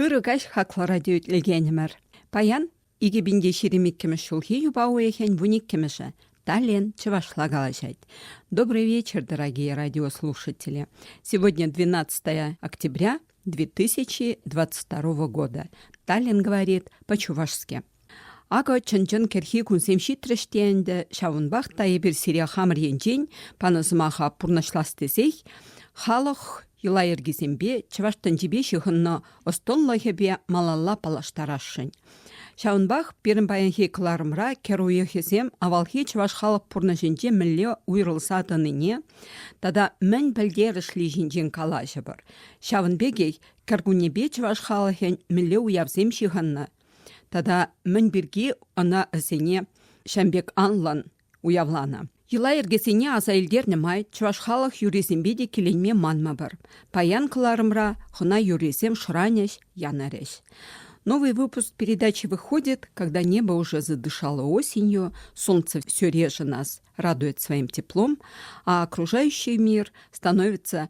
Ырӑ каҫ хаклӑ радиоитлекенӗмӗр. Паян икӗ пин те ҫирӗм иккӗмӗш ҫулхи юпа уйӑхӗн вун иккӗмӗшӗ Таллин чӑвашла калаҫать. Добрый вечер, дорогие радиослушатели. Сегодня 12 октября 2022 года. Таллин говорит по-чувашски. Акӑ чӑн-чӑн кӗрхи кунсем ҫитрӗҫ те ӗнтӗ, ҫавӑнпах та эпир сире хамӑр енчен панӑ сӑмаха пурнӑҫлас тесех халӑх йӑла-йӗркисемпе, чӑваш тӗнчипе ҫыхӑннӑ ӑстӑнлӑхӗпе малалла паллаштарасшӑн. Ҫавӑнпах пирӗн паянхи кӑларӑмра кӗр уйӑхӗсем авалхи чӑваш халӑх пурнӑҫӗнче мӗнле уйрӑлса тӑнине тата мӗн пӗлтерӗшли ҫинчен калаҫӑпӑр. Ҫавӑн пекех кӗркуннепе чӑваш халӑхӗн мӗнле уявсем ҫыхӑннӑ, Тата мӗн пирки ӑна ӗсене ҫам пек анлӑн уявланӑ. Йӑла-йӗркесене аса илтернӗ май чӑваш халӑх юррисемпе те киленме манмӑпӑр. Паян кӑларӑмра хӑна юррисем шӑранӗҫ, янӑрӗҫ. Новый выпуск передачи выходит, когда небо уже задышало осенью, солнце все реже нас радует своим теплом, а окружающий мир становится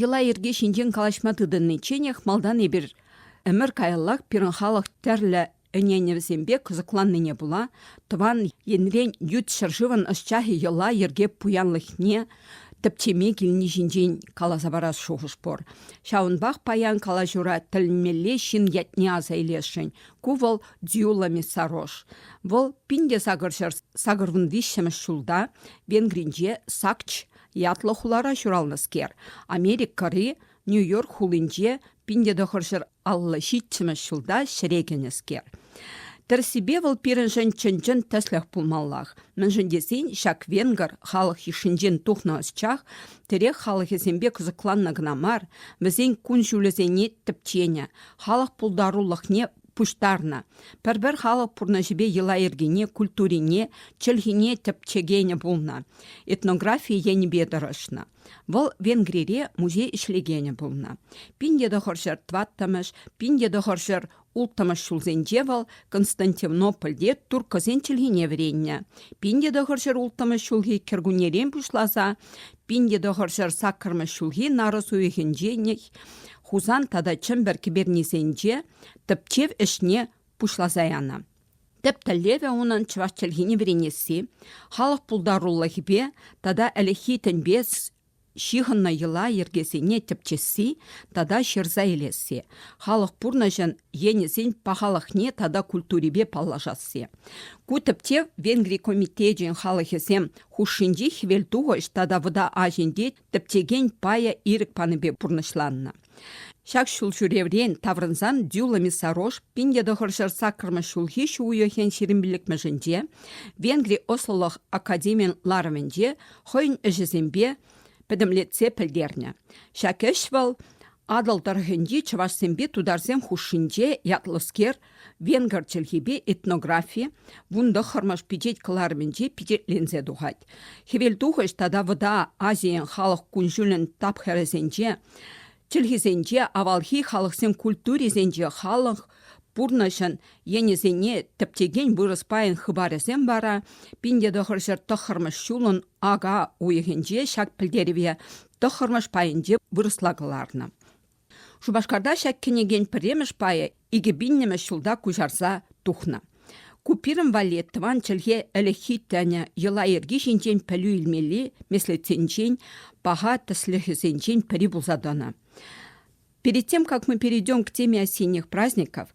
Йӑла-йӗрке ҫинчен калаҫма тытӑничченех малтан эпир ӗмӗр каяллах пирӗн халӑх тӗрлӗ ӗненӗвӗсемпе кӑсӑкланнине пула тӑван енрен ют ҫӗршывӑн ӑсчахӗ йӑла-йӗрке пуянлӑхне тӗпчеме килни ҫинчен каласа парас шухӑш пур. Ҫавӑнпах паян калаҫура тӗлӗнмелле ҫын ятне аса илесшӗн. Ку вӑл Дзюло Мессарош. Вӑл пин те сакӑр ҫӗр сакӑрвун виҫҫӗмӗш ҫулта Венгринче Сакч Ятлӑ хулара ҫуралнӑскер, Америкӑри Нью-Йорк хулинче пин-те тӑхӑрҫӗр аллӑ ҫиччӗмӗш ҫулта ҫӗре кӗнӗскер. Тӗрӗссипе вӑл пирӗншӗн чӑн-чӑн тӗслӗх пулмаллах, мӗншӗн тесен ҫак венгр халӑх йышшинчен тухнӑ ӑсчах тӗрек халӑхӗсемпе кӑсӑкланнӑ кӑна мар, вӗсен кун-ҫулӗсене тӗпченӗ, халӑх пултарулӑхне пуҫтарнӑ. Пӗр-пӗр халӑх пурнӑҫӗпе йӑла-йӗркене, культурине, чӗлхине тӗпчекенӗ пулнӑ, этнографи енӗпе тӑрӑшнӑ. Вӑл Венгрире музей ӗҫлекенӗ пулнӑ. Пин тӑхӑр ҫӗр тӑваттӑмӗш, пин тӑхӑр ҫӗр улттӑмӗш ҫулсенче вӑл Константинопольте турккӑсен чӗлхине вӗреннӗ. Пин тӑхӑр ҫӗр улттӑмӗш ҫулхи кӗркуннерен пуҫласа пин тӑхӑр ҫӗр саккӑрмӗш ҫулхи нарӑс уйӑхӗнче Хусан тата Чӗмпӗр кӗпернисенче тӗпчев ӗҫне пуҫласа янӑ. Тӗп тӗллевӗ унӑн чӑваш чӗлхине вӗренесси, халӑх пултарулӑхӗпе тата ӗлӗкхи тӗнпе ҫыхӑннӑ йӑла йӗркесене тӗпчесси тата ҫырса илесси, халӑх пурнӑҫӗн енӗсен пахалӑхне тата культурипе паллашасси. Ку тӗпчев Венгри комитечӗн халӑхӗсем хушшинчи хӗвелтухӑҫ тата вӑта аҫинче тӗптекен пая ирӗк панипе пурнӑҫланнӑ. Ҫак ҫул ҫӳреврен таврӑнсан Дюла Миссарош пин тӑхӑршар саккӑрмӗш ҫулхи ҫу уйӑхӗн ҫирӗмпиллӗкмӗшӗнче Венгри ӑслӑлӑх академийӗн ларӑвӗнче хӑйӗн ӗҫӗсемпе пӗтӗмлетсе пӗлтернӗ. Ҫак ӗҫ вӑл Атӑл тӑрӑхӗнчи чӑвашсемпе тутарсем хушшинче ятлӑскер Венгр чӗлхипе этнографи вун тӑххӑрмӗш пичет кӑларӑмӗнче пичетленсе тухать. Хӗвелтухӑҫ тата Вӑта Азийӗн халӑх кун-ҫулӗн тапхӑрӗсенче чӗлхисенче авалхи халӑхсен культурисенче халӑх пурнӑҫӑн енӗсене тӗпчекен вырӑс пайӗн хыпарӗсем вара пин тӑхӑрҫӗр тӑххӑрмӗш ҫулӑн ака уйӑхӗнче ҫак пӗлтерӗве тӑххӑрмӗш пайӗнче вырӑсла кӑларнӑ. Шупашкарта ҫак кӗнекен пӗрремӗш пайӗ икӗ пиннӗмӗш ҫулта куҫарса тухнӑ. Ку пирӗн валли тӑван чӗлхе ӗлӗкхи тӗнӗ, йӑла-йӗрке ҫинчен пӗлӳ илмелли меслетсенчен, паха тӗслӗхӗсенчен пӗри пулса тӑнӑ. Перед тем, как мы перейдем к теме осенних праздников,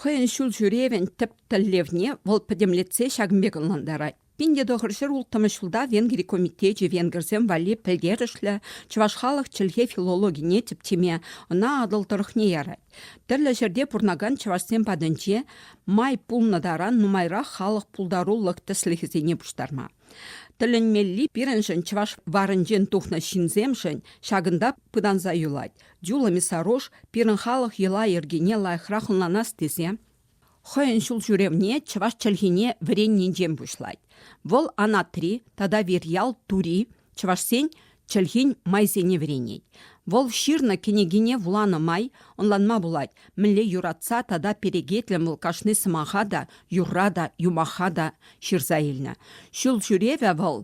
Хӑйӗн ҫул ҫӳревӗн тӗп тӗллевне вӑл пӗтӗмлетсе ҫакӑн пек ӑнлантарать. Пин те тӑхӑр ҫӗр улттӑмӗш ҫулта Венгри комитечӗ венгерсем валли пӗлтерӗшлӗ чӑваш халӑх чӗлхе филологине тӗпчеме, ӑна Атӑл тӑрӑхне ярать. Тӗрлӗ ҫӗрте пурӑнакан чӑвашсем патӗнче май пулнӑ таран нумайрах халӑх пултарулӑх тӗслӗхӗсене пуҫтарма. Тӗлӗнмелли пирӗншӗн, чӑваш варӗнчен тухнӑ ҫынсемшӗн, ҫакӑнта пытанса юлать. Дюла Мясорож пирӗн халӑх йӑла-йӗркине лайӑхрах ӑнланас тесе хӑйӗн ҫулҫӳревне чӑваш чӗлхине вӗреннинчен пуҫлать. Вӑл Анатри тата Вирьял Тури чӑвашсен чӗлхин майсене вӗренет. Вӑл ҫырнӑ кӗнекине вуланӑ май ӑнланма пулать, мӗнле юратса тата перекетлӗн вӑл кашни сӑмаха та, юрра та, юмаха та ҫырса илнӗ. Ҫул ҫӳревӗ вӑл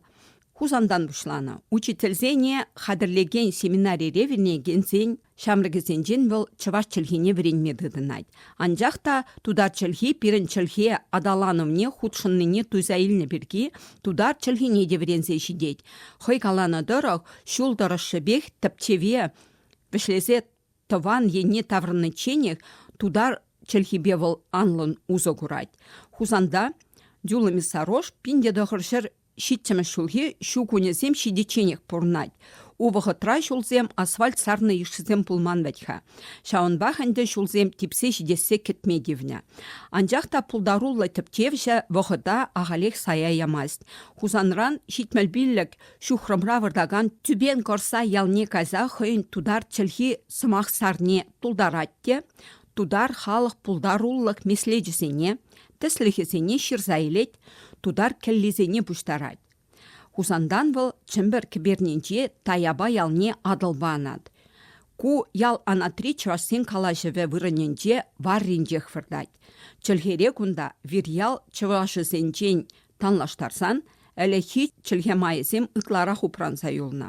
Хусантан пуҫланӑ. Учительсене хатӗрлекен семинарире вӗренекенсен ҫамрӑкӗсенчен вӑл чӑваш чӗлхине вӗренме тытӑнать. Анчах та тутар чӗлхи пирӗн чӗлхе аталанӑвне хутшӑннине туйса илнӗ пирки тутар чӗлхине те вӗренсе ҫитет. Хӑй каланӑ тӑрӑх, ҫул тӑрӑшшӗпех тӗпчеве вӗҫлесе тӑван енне таврӑничченех тутар чӗлхипе вӑл анлӑн усӑ курать. Хусанта Дюла Мясорож пин те тӑхӑр ҫӗр Ҫиччӗмӗш ҫулхи ҫу кунӗсем ҫитичченех пурӑнать. Ку вӑхӑтра ҫулсем асфальт сарнӑ йышшисем пулман вӗт-ха. Ҫавӑнпах ӗнтӗ ҫулсем типсе ҫитессе кӗтме тивнӗ. Анчах та пултаруллӑ тӗпчевҫӗ вӑхӑта ахалех сая ямасть. Хусанран ҫитмӗл пиллӗк ҫухрӑмра выртакан Тюбен Корсай ялне кайса хӑйӗн тутар чӗлхи сӑмах сарни тултарать те Тутар халӑх пултарулӑх меслечӗсене, тӗслӗхӗсене ҫырса илет, тутар кӗллисене пуҫтарать. Хусантан вӑл Чӗмпӗр кӗпернинче Таяпа ялне Атӑлпа анать. Ку ял анатри чӑвашсен калаҫӑвӗ вырӑнӗнче варринчех выртать. Чӗлхере кунта вирьял чӑвашӗсенчен танлаштарсан ӗлӗкхи чӗлхе майӗсем ытларах упранса юлнӑ.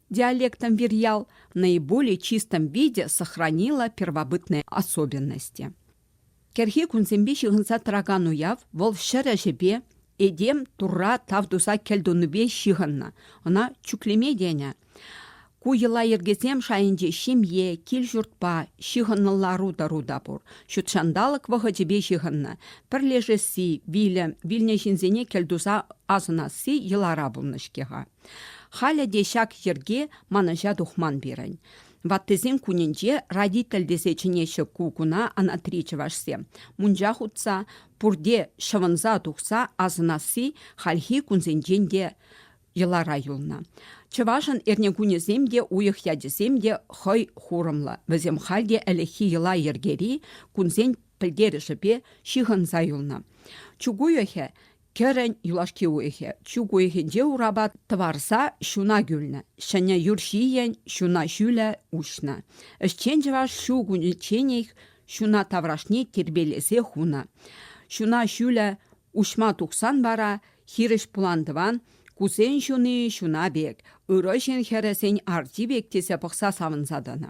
Диалектӑн вир ял наиболее чистом виде сохранила первобытные особенности. Кӗрхи кунсемпе ҫыхӑнса тӑракан уяв вӑл ҫӗр ӗҫӗпе, этем турра тав туса кӗлтунипе ҫыхӑннӑ. Ӑна чӳклеме тенӗ. Ку йӑла-йӗркесем шайӗнче ҫемье, кил-ҫуртпа, ҫыхӑннӑ лару-тӑру та пур. Ҫутҫанталӑк вӑхӑчӗпе ҫыхӑннӑ. Пӗрлешесси, вилӗм, вилнӗ ҫынсене кӗлтуса асӑнасси йӑлара пулнӑ-ҫке-ха. Халӗ те ҫак йӗрке манӑҫа тухман пирӗн. Ваттисен кунӗнче родитель тесе чӗнеҫҫӗ ку куна анатри чӑвашсем. Мунча хутса, пурте ҫӑвӑнса тухса асӑнасси хальхи кунсенчен те йӑлара юлнӑ. Чӑвашӑн эрнекунӗсем те, уйӑх ячӗсем те хӑй хурӑмлӑ. Вӗсем халь те ӗлӗкхи йӑла-йӗркери кунсен пӗлтерӗшӗпе ҫыхӑнса юлнӑ. Чук уйӑхӗ Кӗрӗн юлашки уйӑхӗ чӳк уйӑхӗнче урапа тӑварса ҫуна кӳлнӗ. Ҫӗнӗ юр ҫийӗн ҫуна ҫӳлӗ уҫнӑ. Ӗҫчен чӑваш ҫу кунӗчченех ҫуна таврашне тирпейлесе хунӑ. Ҫуна ҫӳлӗ уҫма тухсан вара хирӗҫ пулантӑван кусен ҫуни ҫуна пек, ырӑ ҫын хӗрӗсен арти пек тесе пӑхса савӑнса тӑнӑ.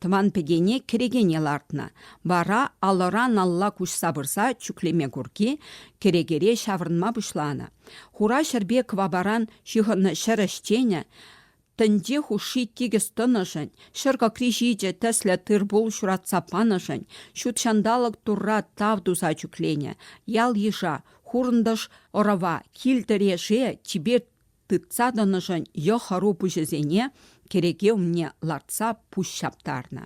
Тӑван пӗтене кӗрекене лартнӑ, вара алӑран-алла куҫса пырса чӳклеме курки кӗрекере ҫаврӑнма пуҫланӑ. Хура ҫӗрпе кӑвапаран ҫыхӑннӑ ҫӗр ӗҫченӗ тӗнче хушши тикӗс тӑнӑшӑн, ҫӗр кӑкри ҫичӗ тӗслӗ тыр-пул ҫуратса панӑшӑн ҫут ҫанталӑк Турра тав туса чӳкленӗ. Ял-йыша, хурӑнтӑш ӑрӑва, кил-тӗре, ше, чипер тытса тӑнӑшӑн йӑ-хӑру пуҫӗсене кӗреке умне лартса пуҫ ҫаптарнӑ.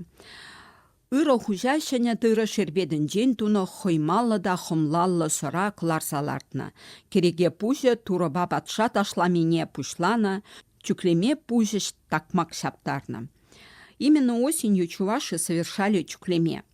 Ырӑ хуҫа ҫӗнӗ тырӑ шерпетӗнчен тунӑ хӑймаллӑ та хӑмлаллӑ сӑра кӑларса лартнӑ. Кӗреке пуҫӗ турӑпа патша ташламине пуҫланӑ, чӳклеме пуҫӗ такмак ҫаптарнӑ. Именно осенью чуваши совершали чӳклеме –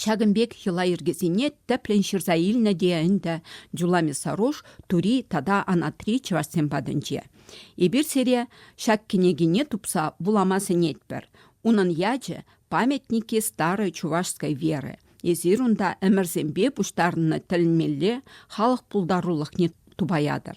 Ҫакӑн пек йӑла-йӗркесене тӗплӗн ҫырса илнӗ те ӗнтӗ Джула Мясорож Тури тата Анатри чӑвашсем патӗнче. Эпир сире ҫак кӗнекене тупса вулама сӗнетпӗр. Унӑн ячӗ «Памятники старой чувашской веры». Эсир унта ӗмӗрсемпе пуҫтарӑннӑ тӗлӗнмелле халӑх пултарулӑхне тупаятӑр.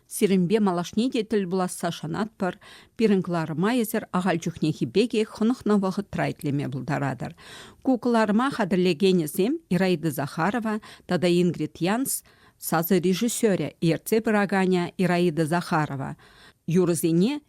Сирӗнпе малашне те тӗл пуласса шанатпӑр. Пирӗн кӑларӑма эсир ахаль чухнехи пекех хӑнӑхнӑ вӑхӑтра итлеме пултаратӑр. Ку кӑларӑма хатӗрлекенӗсем Ираида Захарова тата Ингрид Янс сасӑ режиссерӗ, ертсе пыраканӗ Ираида Захарова юрӑсене